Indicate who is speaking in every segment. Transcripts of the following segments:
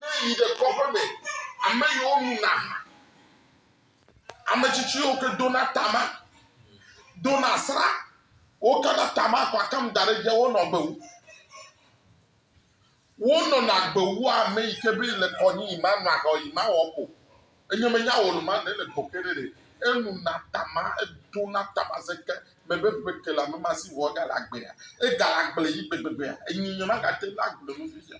Speaker 1: Ne èyi ɖe kɔƒe me, ame yiwo nuna aha, ame tsitsi yiwo ke dona tama, dona sra, wokana tama kɔ akam da ɖe edzi, wonɔ agbe wu. Wonɔna agbe wu ame yi ke be le kɔnyi yi manɔ aha yi mawɔ ko. Enye menya wò luma ɖe le go ke ɖe ɖe. Enuna tama, edona tama zeke me be ƒe ke la me masi wɔ egale agbea. Egale agbe yi gbegbegbea. Enyi nye magate ŋu agblɔe nu fifia.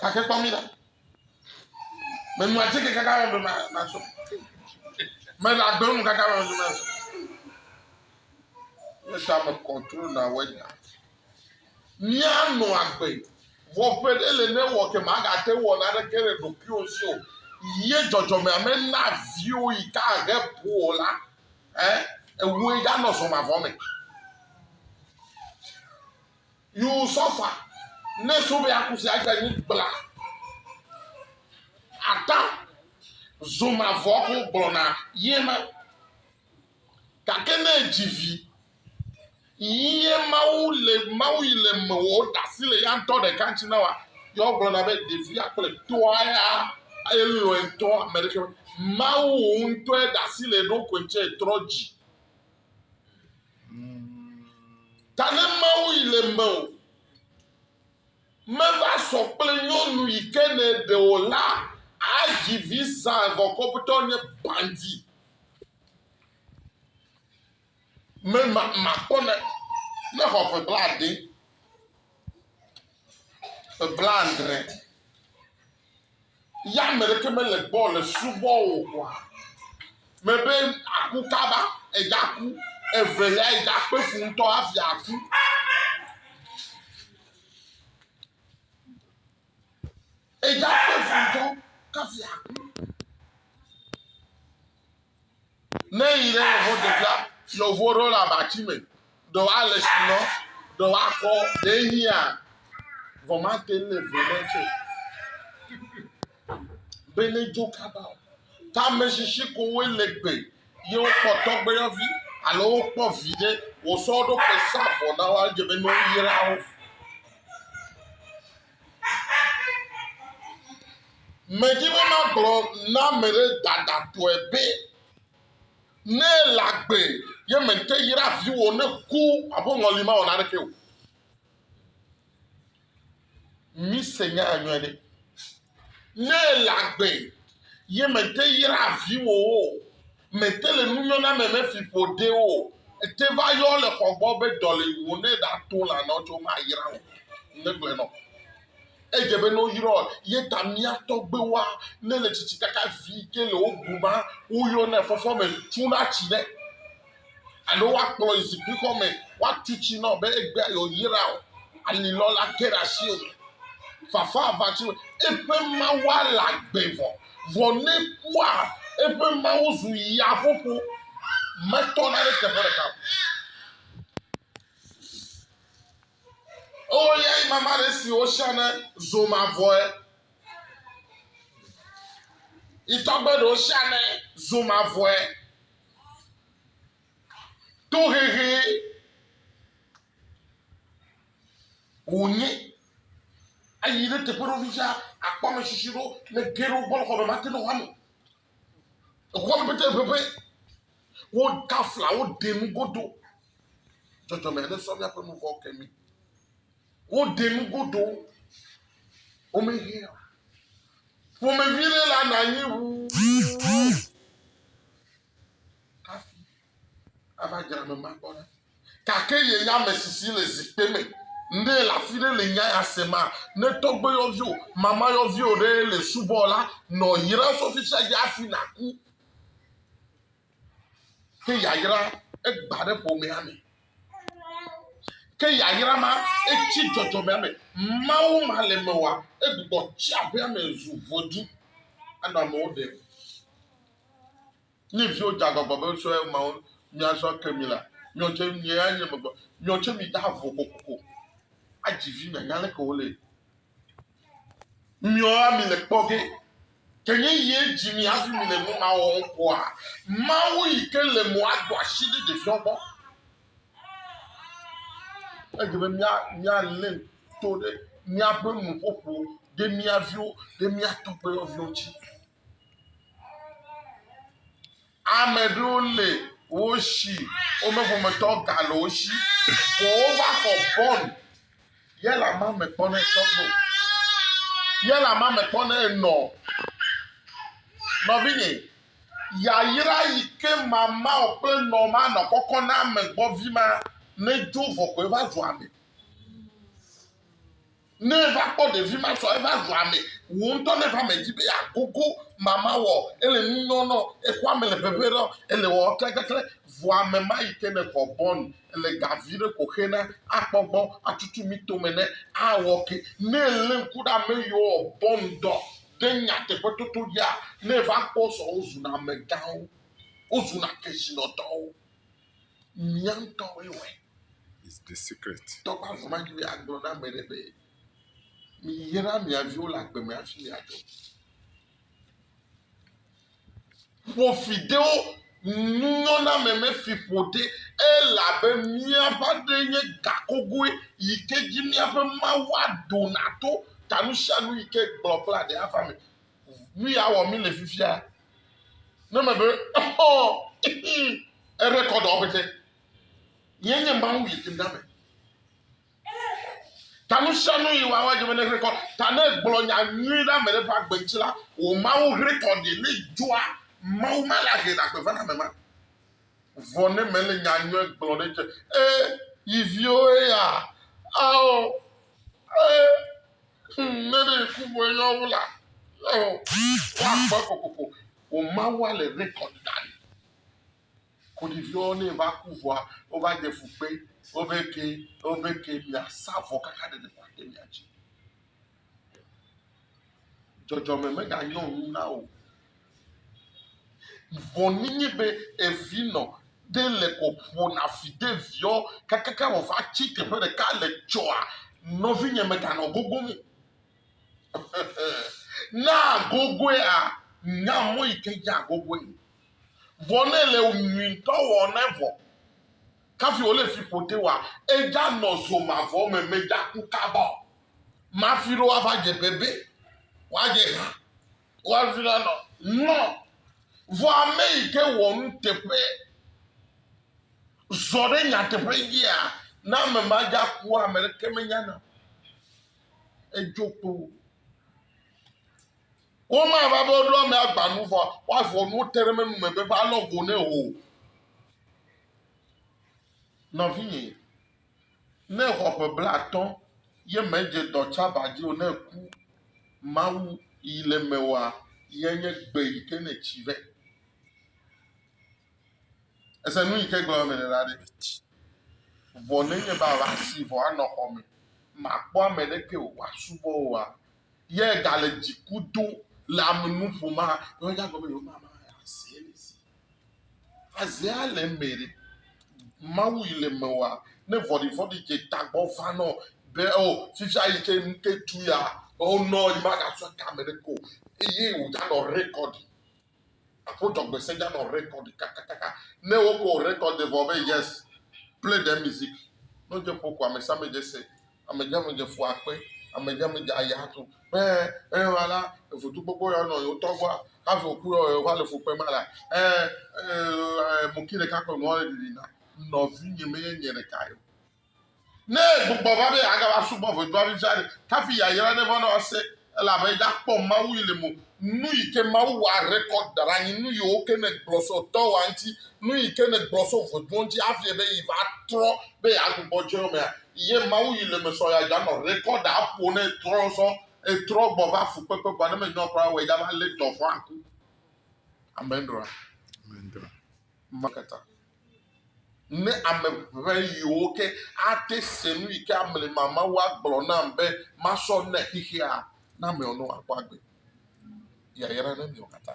Speaker 1: Gake kpɔ mi la, menɔ atike kaka me be mazɔ. Mele agbe mu kaka me be mazɔ. Yesu ame kɔntro na wɛda. Míanɔ agbe. Vɔ ƒe ɖe le ne wɔ ke magate wɔ na ɖeke le ɖokuiwo si o. Ye dzɔdzɔme ame na viwo yi ka he po o la. Eh, ewoe ɖanɔ zɔmavɔ me. Yoo sɔfa ne so be aku sia gbe nyi kpla ata zoma vɔ ko gblɔna ye ma. Gake ne edzi vi ye Mawu le Mawu yi le me wɔ ɖasi le ya ŋutɔ ɖeka ŋuti na wa yɔ gblɔna be ɖevia kple tɔa ya aye lɔe ŋutɔ ame ɖeke Mawu ŋutɔe ɖasi le ɖo koe ŋuti trɔ dzi. Ta ne Mawu yi le mewò, meva sɔ kple nyɔnu yi ke nèɖe o la, adzi vi zã gɔkɔbtɔ nye bandi. Mema makpɔ ne nexɔ ƒe blaade. ƒe blaadre ya ame ɖeke mele gbɔ le subɔ wò oa, mebe aku kaba, egaku evelia egakpe fu ŋutɔ hafi aku. Eya ƒe futɔ kafia ku. Ne yi ɖe yewo ɖevia yewo ɖo le abati me ɖe wa le si nɔ ɖe wa kɔ ɖe yia vɔmate le vele tse. Bene dzo kaba o. Tameshishi kowe le gbe ye wokpɔ tɔgbuiyɔvi alo wokpɔ vi ɖe wòsɔ wo ɖokui sa vɔ na wo edze be ne woyra wo. Medi be magblɔ na ame ɖe dadatɔe be ne ele agbe ye mente yra viwò ne ku aƒe ŋɔli mawɔ naneke o. Mise nyaa nyuie ɖe. Ne èle agbe ye mète yra viwòwo o, mète le nunyɔna me mefi ƒo ɖe wo o, ète va yɔ le xɔ gbɔ be dɔ le wò ne ɖato lã nɔ tso mayra wò. Megblɔe nɔ. Edze be ne woyrɔ ye ta mía tɔgbewoa ne le tsitsi kaka vi ke le wo bu ma woyɔnɛ fɔfɔ me tsuna tsi ɖe. alo woakplɔe yi zikpuixɔ me woatu tsi na wò be egbea yewoyra wò. Alilɔ la ke ɖe asi wò me. Fafa aʋatsi wò. Eƒe mawua le agbe vɔ. Vɔ ne ekua eƒe mawu zu yaƒoƒo. Metɔna ɖe teƒe ɖeka o. Oh, yeah, my man is the ocean, Zoma voe. Itɔgbe ɖe ocean, Zoma voe. Tohehee wònye. Eyi ɖe teƒe ɖewo fifia, àkpɔ ame tsitsi ɖewo le ge ɖe woƒe xɔ me, mate ɖe xɔa me o. Exɔa me pɛtɛ ʋeʋẽ. Woda fla, woɖe nu godo. Dzɔdzɔme aɖe sɔ míaƒe nu vɔ̃wo ke mí. Woɖe nu godo. Womehea o. Ƒomevi ɖe la na anyi ʋuu hafi ava dzra ame ma gbɔ ɖa. Gake yenya ame si si le zikpe me nɛ le afi ɖe le nya ya sem a? Ne tɔgbuiyɔvio, mamayɔvio ɖe le subɔ la, nɔ yra sɔfisha dzi hafi nàku. Ke yayra egbã ɖe ƒomea me. Ke yayra ma etsi dzɔdzɔmea me. Mawu ma le eme oa, egbugbɔ tsi aƒea me zu vodui anɔ amewo ɖem. Ne viwo dze agbagba be sɔe mawo míazɔ ke mi la, miawo tse mianye megbe. Miawo tse mide avo kokoko adzi vi mianya leke wole. Miɔa mi le kpɔ ge, ke nye yie dzi mi hafi mi le nu ma wɔm koa? Mawu yi ke le mo ado asi ɖe ɖeviwo gbɔ. Edze be mía mía lé to ɖe míaƒe nuƒoƒo ɖe mía viwo ɖe mía tɔgbuiyɔviwo dzi. Ame ɖewo le wo shi, wome ƒometɔ gale wo shi, vɔ wova xɔ bɔn ye le ama me kpɔ ne sɔgbe o. Ye le ama me kpɔ ne enɔ. Nɔvinye, yayra yi ke mamao kple nɔ ma nɔ kɔkɔ na ame gbɔvi ma nedzo vɔ koe va zu ame. Ne eva kpɔ ɖevi ma sɔ eva zu ame, wò ŋutɔ ne va me dzi be yeagogo mama wɔ, ele nu nyɔ nɔ, exɔ ame le ʋeʋẽ ɖɔ, ele wɔ klɛklɛklɛ, vɔ ame ma yi ke nèxɔ bɔn le ga viɖe ko xe na akpɔ gbɔ atutu mi tome ne awɔ ke. Ne elé ŋku ɖe ame yi wowɔ bɔn dɔ ɖe nyateƒetoto dzia, ne eva kpɔ sɔ wozuna amegãwo, wozuna kesinɔtɔwo. Mía ŋutɔwoe wɔe. Is the
Speaker 2: secret. Tɔ ƒe avɔ ma dzi be
Speaker 1: agblɔ na ame ɖe be miyra mia viwo le agbe me hafi miadzɔ. Ƒo fi ɖe wo nunyɔname me fi ƒo ɖe elabe míaƒe aɖe nye gakogoe yi ke dzi míaƒe Mawu adona to ta nu sia nu yi ke gblɔ kple aɖe ava me. Nu ya wɔ mí le fifia Ne me be exɔ ere kɔ dɔ ɔpɛtɛ. Nye nye mawu yi tim dame. Ta nu sia nu yi wawa dze me ne hrekɔ. Ta ne gblɔ nya nyui ɖe ame ɖe ƒe agbe ŋuti la, wò mawu hrekɔ ɖi ne dzɔa mawu ma le ahe na gbe va na ame ma. Vɔ ne mele nya nyui gblɔ ɖe dze. E, yi viwo eya. Ao, e. Ŋ ne ɖe ŋku ŋue yɔ wo la, ɔ, woakpɔe kokoko. Wò Mawua le rekɔd ɖa ɖi. Koɖiviwo ne va ku vɔa, wova de fu kpe wo be ke, wo be ke miasa vɔ kaka ɖeɖe ko ate mia dzi. Dzɔdzɔme meganyo nu na wò Vɔ ninyi be evi nɔ ɖe le kɔ ƒo na fi de viɔ kakaka wɔ va ci teƒe ɖeka le cɔa nɔvinyɛ me ganɔ gogo mu. Na gogoe a nya mɔ yi ke dza gogoe. Vɔ ne le nyui ŋtɔ wɔ ne vɔ kafi wo le fi ƒo te wa edza nɔ zo mavɔ me me dza ku kaba o. Mafi ɖo wa va dze bebe wa dze ha. Kɔavilan nɔ ŋlɔ, vɔ ame yi ke wɔ nuteƒe zɔ ɖe nyateƒe dzia, ne ame ma dza kua, ame ɖeke menyana o. Edzo kpoo. Womava be woɖo ame agba nu vɔ woavɔ nuwo te ɖe menu me be va lɔ go nɛ o. Nɔvinye, Ne exɔ ƒe blaatɔ̃ ye medze dɔ tsaba dzi o, ne eku, Mawu yi le eme wɔa, yae nye gbe yi ke nètsi vɛ. Ese nu yi ke gblɔ mele la ɖe? Vɔ nenye be àva si vɔ anɔ xɔ me, màkpɔ ame aɖeke o wòasubɔ wòa, ye gale dziku dom le ame nu ƒom hã, nyawo dze agɔ be yewomava asee le zi o. Azea le eme ɖe. Mawu yi le eme wa ne vɔɖivɔ̃ɖi dze tagbɔ va nɔ be o fifia yi ke nu ke tu ya o nɔ yi magasɔ kame ɖe ko eye wòdzanɔ rekɔdi. Aƒo dzɔgbese dzanɔ rekɔdi kakakaka. Ne woko rekɔdi vɔ be yes play the music ne wodze ƒo ko amesiame dze se amedzamedze fu akpe, amedzamedze ayi adzo be eyema la votugbogbo ya nɔ yewotɔ gbɔa hafi wòku yɔ yewova le fukpem ma la ɛ ɛ ɛ moki ɖeka ko nua le ɖiɖim na nɔvinye menye nye ɖeka ye o. Ne egbugbɔ va be yeagava subɔ ʋɔtruavi sia ɖe hafi yayra neva nɔ ese Elabe eya kpɔ Mawu yi le mo, nuyike Mawu wa record daɖe anyi, nuyiwoke ne gblɔ so dɔwɔa ŋti, nuyike ne gblɔ so ʋeduɔ ŋti hafi be yi va trɔ be ya gbugbɔ dzeɔ mea, ye Mawu yi le me sɔ ya dza nɔ record a ƒo ne etrɔ sɔ etrɔ gbɔ va fukpekpe vɔa ne me nyɔ kura wɔ ya va le dɔvɔa ŋku. Amen ɖoa? Amen ɖoa? Maketa. Ne ame ʋɛ yiwo ke ate se nu yi ke amli mamawó agblɔ nam be masɔ ne xexea, na ame ɔnɔ akpɔ agbe. Yayra ne mi wó katã.